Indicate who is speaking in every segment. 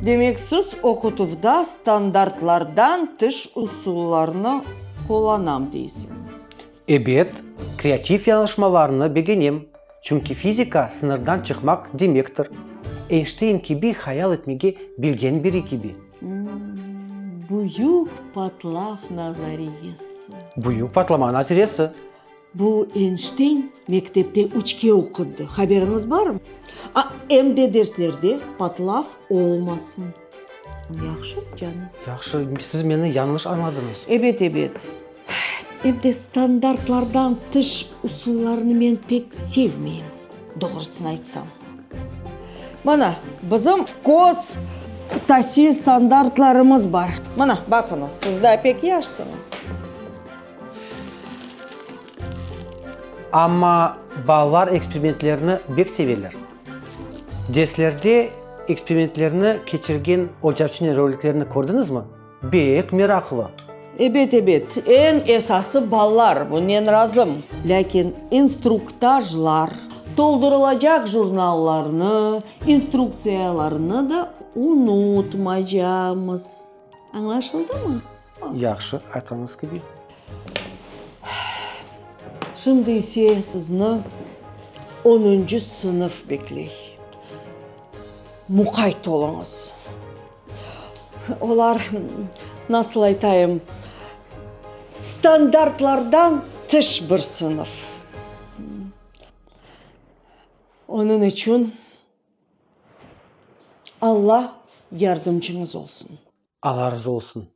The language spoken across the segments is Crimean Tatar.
Speaker 1: Demek, siz oqutuvda standartlardan tış usullarnı qullanam deysiñiz. Ebet,
Speaker 2: kreativ yañlışmalarnı begenem, çünki fizika sıñırdan çıqmaq demektir. Eynşteyn kibi hayal etmege bilgen biri kibi. Büyük
Speaker 1: patlav nazariyesi. Büyük patlama
Speaker 2: naziresi. Bu
Speaker 1: Eynşteyn mektepte üçke oqudı, haberiñiz barmı? A, em de derslerde patlav olmasın. Yahşı, canım. Yahşı, siz
Speaker 2: meni yañlış añladıñız. Ebet, ebet.
Speaker 1: Em de standartlardan tış usullarnı men pek sevmeyim, doğrusını aytsam. Mana, bizim köz tasil standartlarımız bar. Mana, baqıñız, siz daa pek yaşsıñız.
Speaker 2: Amma balalar eksperimentlerni bek seveler. Derslerde eksperimentlerni keçirgen ocaçnıy roliklerni kördiñizmi? Bek meraqlı. Ebet, ebet,
Speaker 1: eñ esası balalar, bunnen razım. Lâkin instruktajlar, toldurılacaq jurnallarnı, instruktsiyalarnı da unutmaycağımız. Añlaşıldımı? Yahşı,
Speaker 2: aytqanıñız kibi.
Speaker 1: Şimdi ise sizni onuncu sınıf bekley. Muqayt oluñız. Olar, nasıl aytayım, standartlardan tış bir sınıf. Onıñ içün Alla yardımcıñız olsun. Alla razı
Speaker 2: olsun.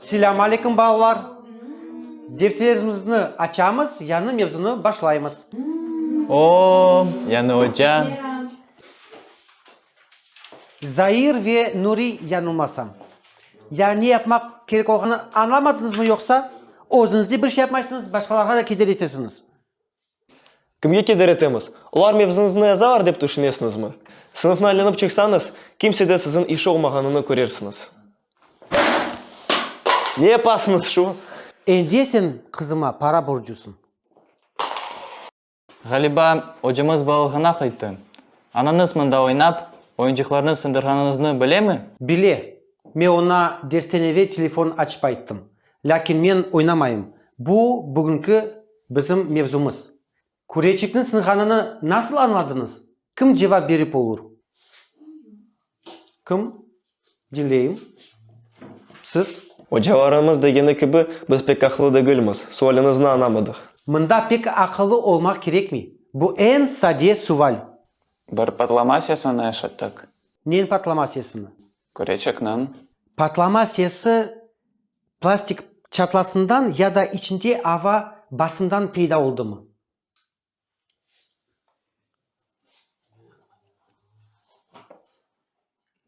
Speaker 2: Selâm aleyküm balalar. Defterimizni açamız, yañı mevzunı başlaymız. Oo,
Speaker 3: yañı oca.
Speaker 2: Zair ve Nuri yañılmasam. Ya ne yapmaq kerek olğanını añlamadıñızmı yoqsa özüñizde bir şey yapmaysıñız, başqalarğa da keder etesiñiz?
Speaker 3: Kimge keder etemiz? Olar mevzunıznı yazalar dep tüşünesiñizmi? Sınıfnı aylanıp çıqsañız, kimsede siziñ işi olmağanını körersiñiz. Ne yapasıñız şu? Ende sen
Speaker 2: qızıma para borcusıñ.
Speaker 4: Ğaliba, ocamız balığına qayttı. Anañız mında oynap, oyuncıqlarnı sındırğanıñıznı bilemi? Bile. Me
Speaker 2: oña dersten eve telefon açıp ayttım. Lâkin men oynamayım. Bu, bugünki bizim mevzumız. Küreçikniñ sınğanını nasıl añladıñız? Kim cevap berip olur? Kim? Diñleyim. Siz? Ocalarımız
Speaker 3: degeni kibi, biz pek aqıllı degilmiz. Sualiñizni añlamadıq. Mında pek
Speaker 2: aqıllı olmaq kerekmey. Bu eñ sade sual. Bir
Speaker 4: patlama sesini eşittik. Neñ patlama
Speaker 2: sesini? Küreçekniñ.
Speaker 4: Patlama
Speaker 2: sesi plastik çatlasından ya da içinde ava basından peyda oldımı?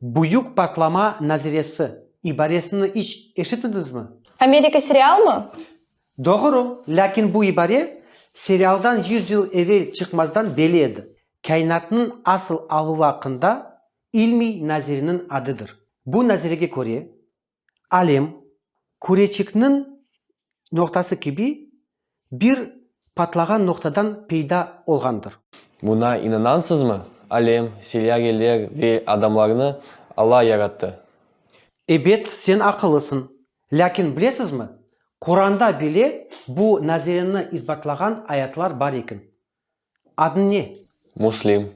Speaker 2: Büyük patlama naziresi ibaresini iç eşitmediñizmi? Amerika serialmı?
Speaker 5: Doğru,
Speaker 2: lâkin bu ibare serialdan yüz yıl evel çıqmazdan belli edi. Kâinatnıñ asıl aluvi aqqında ilmiy naziriniñ adıdır. Bu nazirege köre, alem, küreçikniñ noqtası kibi, bir patlağan noqtadan peyda olğandır. Buña
Speaker 6: inanansızmı? Alem, seyyareler ve adamlarnı Alla yarattı. Ebet,
Speaker 2: sen aqıllısıñ. Lâkin bilesizmi, Quranda bile bu nazireni isbatlağan ayatlar bar eken. Adıñ ne? Müslim.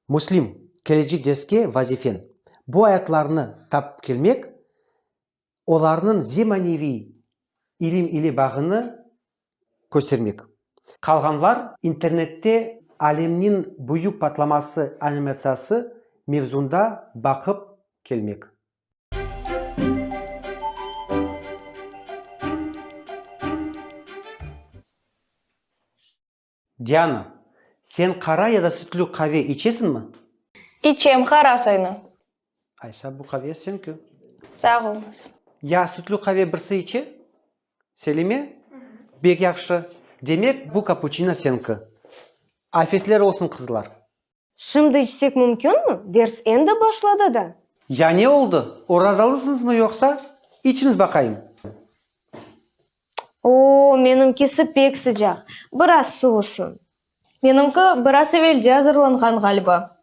Speaker 6: Müslim,
Speaker 2: keleci dersge vazifen, bu ayatlarnı tapıp kelmek, olarnıñ zemaneviy ilim ile bağını köstermek. Qalğanlar, internette Alemniñ büyük patlaması animatsiyası mevzunda baqıp kelmek. Diana, sen qara ya da sütlü qave içesinmi? İçem,
Speaker 5: qara soynu. Aysa,
Speaker 2: bu qave señki. Sağ oluñız. Ya sütlü qave
Speaker 5: birsi içe?
Speaker 2: Selime, Bek yahşı. Demek, bu kapuçino señki. Afetler olsun, qızlar! Şimdi
Speaker 7: içsek mümkünmi? Ders endi başladı da. Ya ne oldı?
Speaker 2: Orazalısıñızmı yoqsa? İçiñiz baqayım.
Speaker 7: Oo, menimkisi pek sıcaq. Biraz suvusın. Menimki
Speaker 5: biraz evelce azırlanğan, ğaliba.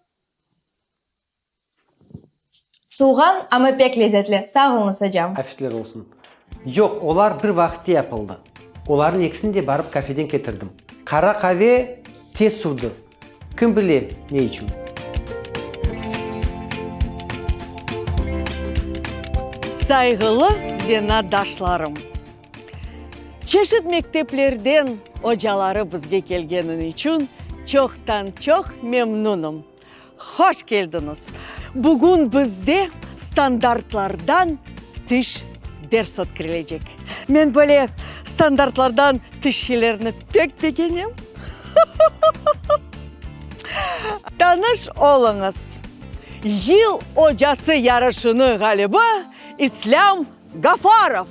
Speaker 5: Suvğan, amma pek lezetli. Sağ oluñız, ocam. Afetler olsun.
Speaker 2: Yoq, olar bir vaqıtte yapıldı. Olarnıñ ekisini de barıp kafeden ketirdim. Qara qave tez suvdı. Kim bile, ne içün.
Speaker 1: Sayğılı venadaşlarım! Çeşit mekteplerden ocaları bizge kelgenini içün çoqtan-çoq memnunım. Hoş keldiñiz! Bugün bizde standartlardan tış ders ötkrilecek. Men böyle standartlardan tış şeylerni pek begenem. Tanış oluñız, Yıl ocası yarışınıñ ğalibi İslâm Gafarov!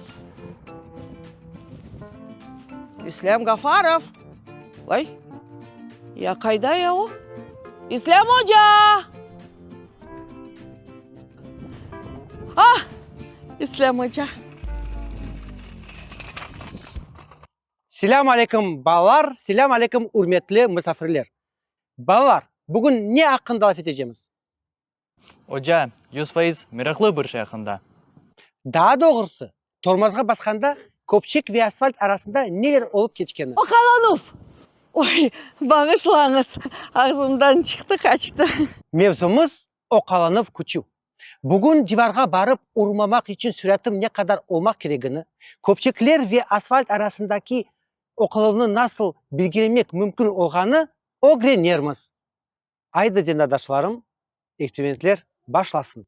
Speaker 1: İslâm Gafarov! Vay, ya qayda ya o? İslâm oca! Ah! İslâm oca!
Speaker 2: Selâm aleyküm, balalar! Selâm aleyküm, ürmetli misafirler! Balalar, bugün ne aqqında laf etecemiz? Oca,
Speaker 4: yüz fayız meraqlı bir şey aqqında. Daa
Speaker 2: doğrusı, tormozğa basqanda köpçek ve asfalt arasında neler olıp keçkeni. Oqalanuv!
Speaker 1: Oy, bağışlañız, ağzımdan çıqtı, qaçtı. Mevzumız,
Speaker 2: oqalanuv küçüv. Bugün divarğa barıp urmamaq içün süratim ne qadar olmaq keregini, köpçekler ve asfalt arasındaki oqaluvnı nasıl belgilemek mümkün olğanı ögrenermiz. Aydı cendardaşlarım, eksperimentler başlasın!